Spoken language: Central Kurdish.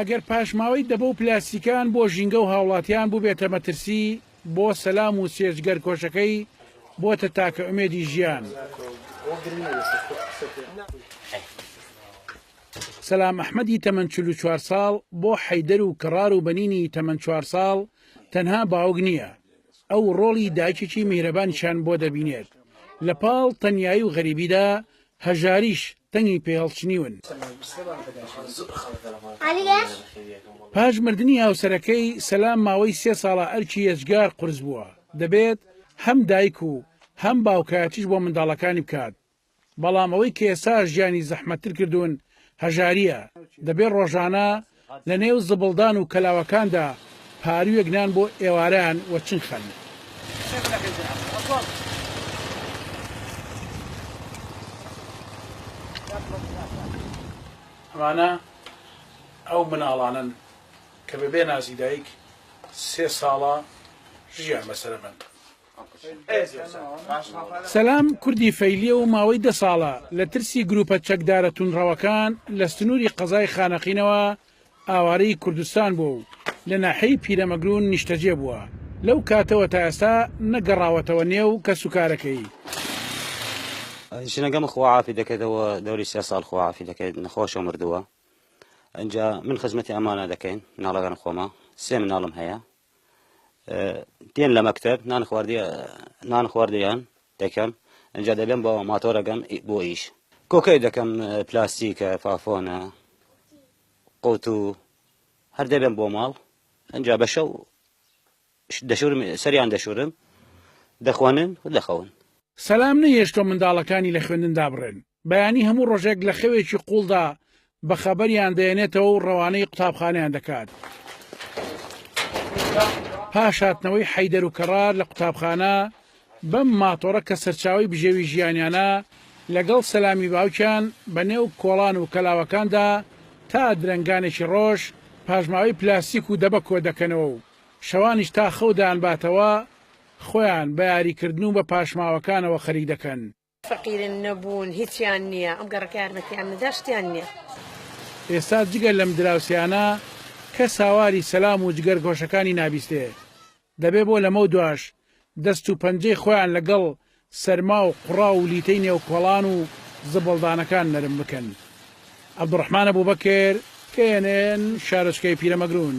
ئەگەر پاشماوەی دەبە و پلاستیکان بۆ ژینگە و هاوڵاتیان بووبێتە مەترسی، بۆ سەلام و سێرج گەرکۆشەکەی بۆتە تاکە ئومێدی ژیان. سەلام ئەحمەدی تەمەن چل و چوار ساڵ بۆ حەیدەر و کەڕار و بەنینی تەمەن چوار ساڵ تەنها باوک نییە ئەو ڕۆڵی دایکێکی میهرەبانیشان بۆ دەبینێت لە پاڵ تەنایی و غەریبیدا هەژاریش تەنگی پێ هەڵچنیون. پاش مردنی هاوسەرەکەی سەلام ماوەی سێ ساڵە ئەرکی یەجگار قورس بووە دەبێت هەم دایک و هەم باوکایەتیش بۆ منداڵەکانی بکات بەڵام ئەوەی کە ئێستا ژیانی زەحمەتتر کردوون هەژارییە دەبێت ڕۆژانە لە نێو زبڵدان و کەلاوەکاندا پارویەک نان بۆ ئێواران وە چنخەن. ئەمانە ئەو مناڵانەن کە بەبێ نازی دایک سێ ساڵە ژیان بەسەرە بەن. سەلام کوردی فەیلیە و ماوەی دە ساڵە لە ترسی گروپە چەکدارە تونڕەوەکان لە سنووری قەزای خانەقینەوە ئاوارەی کوردستان بووە و لە ناحیەی پیرەمەگرون نیشتەجێ بووە لەو کاتەوە تا ئێستا نەگەڕاوەتەوە نێو کەسوکارەکەی ژنەکەم خواعافی دەکەێتەوە دەوری سێ ساڵ خواعافی دەکەێت نەخۆشە مردووە ئەجا من خزمەتی ئەمانە دەکەین مناڵەکان خۆمە سێ مناڵم هەیە دێن لە مەکتەب نان خواردی نان خواردیان دەکەم ئەجا دەبێن بۆ ماتۆرەگەم بۆ ئیش کۆکەی دەکەم پلاستیکە فافۆنە قوت و هەر دەبێن بۆ ماڵ ئەجا بە شەو دەشورم سەریان دەشورم دەخوانن و دەخەون سەلام نەهێشتووە منداڵەکانی لە خوێندن دابڕێن. بەیانی هەموو ڕۆژێک لە خەوێکی قوڵدا بە خەبەریان دەێنێتەوە و ڕەوانەی قوتابخانیان دەکات. پاش هاتنەوەی حەیدەر و کەڕار لە قوتابخانە بەم ماتۆڕە کە سەرچاوی بژێوی ژیانیانە لەگەڵ سەلامی باوکیان بە نێو کۆڵان و کەلاوەکاندا تا درەنگانێکی ڕۆژ پاشماوەی پلاستیک و دەبە کۆ دەکەنەوە و شەوانیش تا خەودان باتەوە خۆیان بە یاریکردن و بە پاشماوەکانەوە خەریک دەکەن. فەقیرن نەبوون هیچیان نیە ئەم گەڕەکە یارمەتیان نەدا شتیان نیە. ئێستا جگە لەم دراوسێانە کەس هاواری سەلام و جگەر گۆشەکانی نابیستێ دەبێ بۆ لەمەو دواش دەست و پەنجەی خۆیان لە گەڵ سەرما و قوڕاو و لیتەی نێو کۆڵان و زبڵدانەکان نەرم بکەن عبدالرحمن ابوبکر کە یەنێن شارۆچکەی پیرەمەگرون.